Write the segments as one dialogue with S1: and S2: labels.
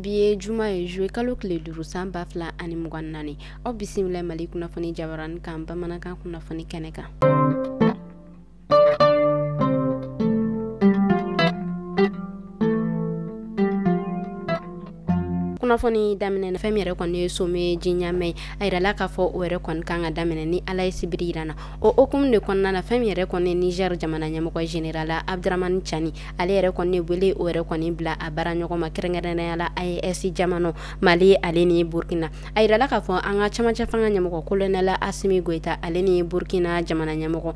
S1: bi ye juma ye juillet kalo tile duuru san ba fila ani mugan naani aw bisimila mali kunnafoni jabarani kan bamanankan kunnafoni kɛnɛ kan kunnafoni daminɛ fɛn min yɛrɛ kɔni ye sommet de Niamey ye a yirala k'a fɔ o yɛrɛ kɔni kan ka daminɛ ni ala ye sibiri yira an na o hukumu de kɔnɔna na fɛn min yɛrɛ kɔni niger jamana ɲɛmɔgɔ général Abdourahamane Tiani ale yɛrɛ kɔni wele o yɛrɛ kɔni bila a baaraɲɔgɔn ma kɛrɛnkɛrɛnnenya la aes jamana mali ale ni burkina a yirala k'a fɔ an ka camancɛ fanga ɲɛmɔgɔ colonel Assimi Goïta ale ni burkina jamana ɲɛmɔgɔ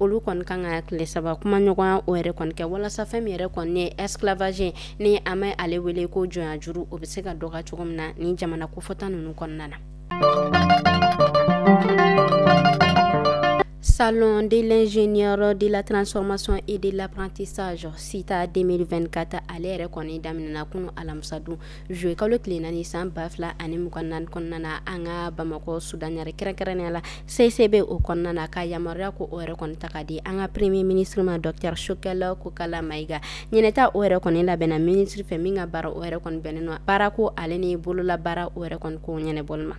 S1: olu kɔni kan ka tile saba kumaɲɔgɔnya o yɛrɛ kɔni kɛ walasa fɛn min yɛrɛ kɔni ye esclavage ni an bɛ ale wele ko jɔnyajuru o bɛ se ka dɔgɔya cogo min na nin jamana kofɔta ninnu kɔnɔna na Salon de l'ingénieur de la transformation et de l'apprentissage SITA 2024 ale yɛrɛ kɔni daminɛna kunu alamisa don juillet kalo tile naani san ba fila ani mugan naani kɔnɔna na an ka Bamakɔ sudanɲari kɛrɛnkɛrɛnnenya la CICB o kɔnɔna na ka yamaruya ko o yɛrɛ kɔni ta k'a di an ka premier ministre ma docteur Choguel Kokalla Maïga ɲinɛta o yɛrɛ kɔni labɛnna ministre fɛ min ka baara o yɛrɛ kɔni bɛnnen don baarako ale ni bololabaara o yɛrɛ kɔni ko ɲɛnɛbɔli ma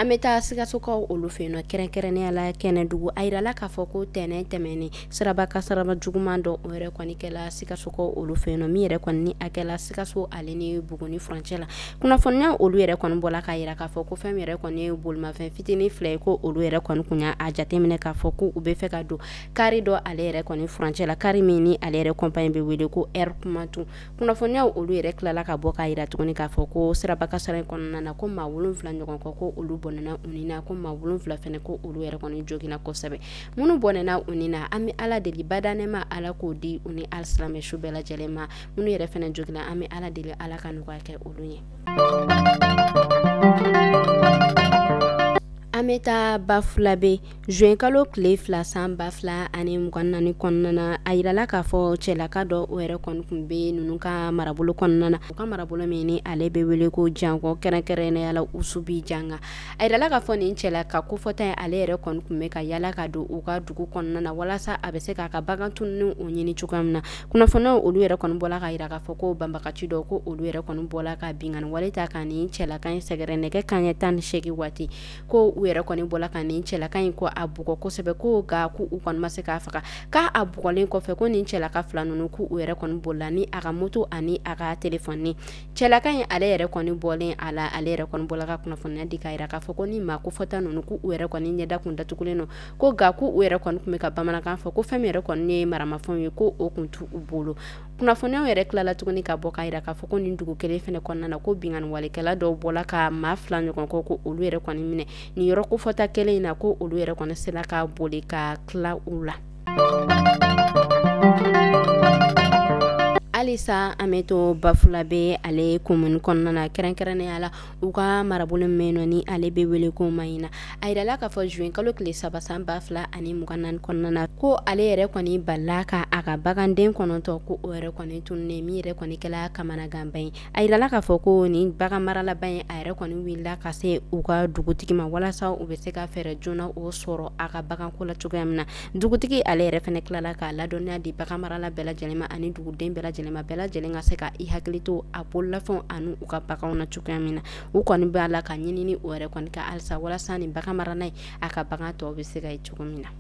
S1: an bɛ taa sikasokaw olu fɛ yen nɔ kɛrɛnkɛrɛnnenya la kɛnɛdugu a yirala k'a fɔ ko tɛnɛn tɛmɛnen siraba kasaraba juguman dɔ o yɛrɛ kɔni kɛla sikasokaw olu fɛ yen nɔ min yɛrɛ kɔni ni a kɛla sikaso ale ni buguni furancɛ la kunnafoniya olu yɛrɛ kɔni bɔla k'a yira k'a fɔ ko fɛn yɛrɛ kɔni ye bolimafɛn fitinin fila ye ko olu yɛrɛ kɔni kun y'a jateminɛ k'a fɔ ko u bɛ fɛ ka don kari dɔ ale yɛrɛ kɔni furancɛ la kari min ni ale yɛrɛ kɔnpani bɛ wele ko Air Koumantou kunnafoniya olu yɛrɛ tilala ka bɔ k'a yira tuguni k'a fɔ ko siraba kasara in kɔnɔna na ko maa wolonwula ɲɔgɔn kɔ ko olu bɔnɛna u ni na ko maa wolonwula fɛnɛ ko olu yɛrɛ kɔni joginna kosɛbɛ minnu bɔnɛna u ni na an bɛ ala deli badaa nɛɛma ala k'o di u ni alisilamɛ su bɛɛ lajɛlen ma minnu yɛrɛ fɛnɛ joginna an bɛ ala deli ala ka nɔgɔya kɛ olu ye an bɛ taa bafulabe juillet kalo tile fila san ba fila ani mugan naani kɔnɔna na a yirala k'a fɔ cɛlaka dɔ o yɛrɛ kɔni kun bɛ ninnu ka marabolo kɔnɔna na u ka marabolo min ni ale bɛ wele ko jankɔ kɛrɛnkɛrɛnnenya la Oussoubidiagna a yirala k'a fɔ nin cɛlaka kofɔta ye ale yɛrɛ kɔni kun bɛ ka yaala ka don u ka dugu kɔnɔna na walasa a bɛ se k'a ka bagan tununnen o ɲini cogoya min na kunnafoniyaw olu yɛrɛ kɔni bɔla k'a yira k'a fɔ ko banbaganci dɔ ko olu yɛrɛ kɔni bɔla ka binkanni wale ta ka nin cɛlaka in sɛgɛrɛ nɛgɛ kanɲɛ tan ni seegin waati ko u yɛrɛ kɔni bɔla ka nin cɛlaka in ko a bugɔ kosɛbɛ ko ga ko u kɔni ma se k'a faga k'a a bugɔlen kɔfɛ ko nin cɛlaka fila ninnu ko u yɛrɛ kɔni bolila ni a ka moto ani a ka telefɔni cɛlaka in ale yɛrɛ kɔni bɔlen a la ale yɛrɛ kɔni bɔla ka kunnafoniya di k'a yira k'a fɔ ko nin maa kofɔta ninnu ko u yɛrɛ kɔni ɲɛda kun datugulen don ko ga ko u yɛrɛ kɔni kun bɛ ka bamanankan fɔ ko fɛn yɛrɛ kɔni ye maramafɛnw ye ko o kun t'u bolo kunnafoniyaw yɛrɛ tilala tuguni ka bɔ k'a yira k'a fɔ ko nin dugu kelen fɛnɛ kɔnɔna na ko binganiwalekɛla dɔw bɔla ka maa fila ɲɔgɔn kɔ ko olu yɛrɛ kɔni minɛ nin yɔrɔ kofɔta kelen in na ko olu yɛrɛ kɔni sela ka boli ka tila u la halisa an bɛ to bafulabe ale komuni kɔnɔna na kɛrɛnkɛrɛnnenya la u ka marabolo min nɔ ni ale bɛ wele ko mahina a yirala k'a fɔ zuye kalo tile saba san ba fila ani mugan naani kɔnɔna na ko ale yɛrɛ kɔni balila ka a ka baganden kɔnɔntɔn ko o yɛrɛ kɔni tununnen min yɛrɛ kɔni kɛla kamanaganba ye a yirala k'a fɔ ko nin bagan maralaba in a yɛrɛ kɔni wulila ka se u ka dugutigi ma walasa u bɛ se ka fɛɛrɛ joona o sɔrɔ a ka baganko la cogoya min na dugutigi ale yɛrɛ fɛnɛ tilala k'a ladɔnniya di bagan marala bɛɛ lajɛlen ma ani duguden bɛɛ lajɛlen ma bɛɛ lajɛlen ka se ka i hakili to a bololafɛnw ani u ka baganw na cogoya min na u kɔni b'a la ka ɲinini o yɛrɛ kɔni kɛ halisa walasa nin bagan marana in a ka bagan tɔw bɛ se ka ye cogo min na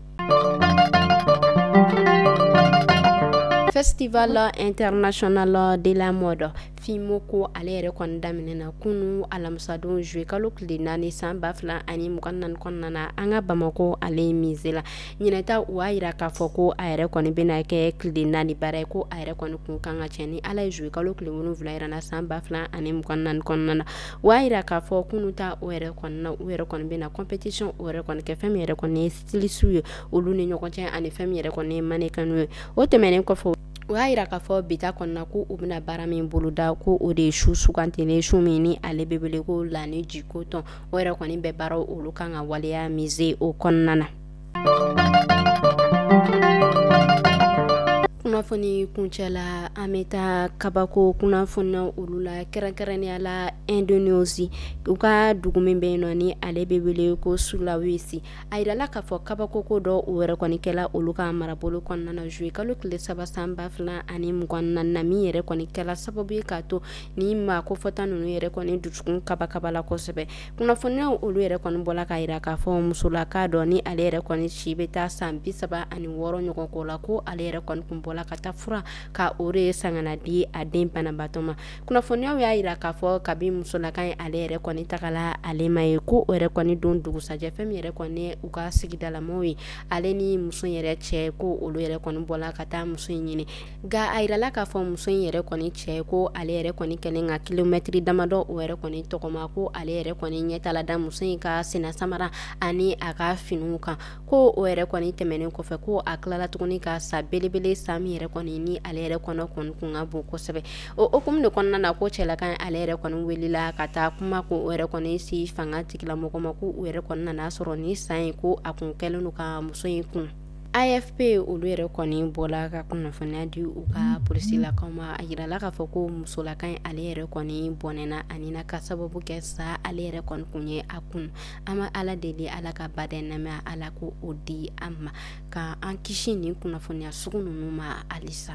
S1: festival international de la mode fimo ko ale yɛrɛ kɔni daminɛna kunun alamisadon zuye kalo tile naani san ba fila ani mugan naani kɔnɔna na an ka bamakɔ ale mize la ɲinan ta u y'a yira k'a fɔ ko a yɛrɛ kɔni bɛna kɛ tile naani baara ye ko a yɛrɛ kɔni kun kan ka cɛ ni ale ye zuye kalo tile wolonwula yɛrɛ na san ba fila ani mugan naani kɔnɔna na o y'a yira k'a fɔ kunun ta o yɛrɛ na u yɛrɛ kɔni bɛna compétition o yɛrɛ kɔni kɛ fɛn min yɛrɛ kɔni ye styliste ye olu ni ɲɔgɔn cɛ ani fɛn min yɛrɛ kɔni ye mannequin ye o tɛmɛnen kɔfɛ o y'a yira k'a fɔ bi ta kɔnɔna ko u bɛna baara min boloda ko o de ye su sugandilen su min ni ale bɛ wele ko la nuit du coton o yɛrɛ kɔni bɛ baara olu kan ka waleya mize o kɔnɔna na kunnafoni kuncɛ la an bɛ taa kabako kunnafoniya olu la kɛrɛnkɛrɛnnenya la indonesie u ka dugu min bɛ yen nɔ ni ale bɛ wele ko sulawesi a yirala k'a fɔ kabakoko dɔ o yɛrɛ kɔni kɛla olu ka marabolo kɔnɔna na zuye kalo tile saba san ba fila ani mugan naani na min yɛrɛ kɔni kɛla sababu ye k'a to nin maa kofɔta ninnu yɛrɛ kɔni dusukun kabakabala kosɛbɛ kunnafoniyaw olu yɛrɛ kɔni bɔla k'a yira k'a fɔ musolaka dɔ ni ale yɛrɛ kɔni si bɛ taa san bi saba ani wɔɔrɔ ɲɔgɔn ko la ko ale yɛrɛ kɔni kun bɔla ka taa fura ka o de ye san ka n'a di a den banabaatɔ ma kunnafoniyaw y'a yira k'a fɔ kabi musolaka in ale yɛrɛ kɔni tagala ale ma ye ko o yɛrɛ kɔni don dugusajɛ fɛ min yɛrɛ kɔni u ka sigidalamɔgɔw ye ale ni muso in yɛrɛ cɛ ko olu yɛrɛ kɔni bɔla ka taa muso in ɲini nka a yirala k'a fɔ muso in yɛrɛ kɔni cɛ ko ale yɛrɛ kɔni kɛlen ka kilomɛtiri damadɔ o yɛrɛ kɔni tɔgɔma ko ale yɛrɛ kɔni ɲɛ taala da muso in ka sennasamara ani a ka finiw kan ko o yɛrɛ kɔni tɛmɛnen kɔfɛ ko a tilala tuguni ka sa belebele sa min yɛrɛ kɔni ni ale yɛrɛ kɔnɔ kɔni kun ka bon kosɛbɛ o hukumu de kɔnɔna na ko cɛlaka in ale yɛrɛ kɔni wulila ka taa kuma ko o yɛrɛ kɔni se fangatigilamɔgɔ ma ko u yɛrɛ kɔni nana sɔrɔ nin sa in ko a kun kɛlen don ka muso in kunu afp olu yɛrɛ kɔni bɔla ka kunnafoniya di u ka polisilakaw ma a yirala k'a fɔ ko musolaka in ale yɛrɛ kɔni bɔnɛna a ni na ka sababu kɛ sa ale yɛrɛ kɔni kun ye a kunu an b' ala deli ala ka badaa nɛɛma ala ka o di an ma ka an kisi nin kunnafoniya sugu ninnu ma halisa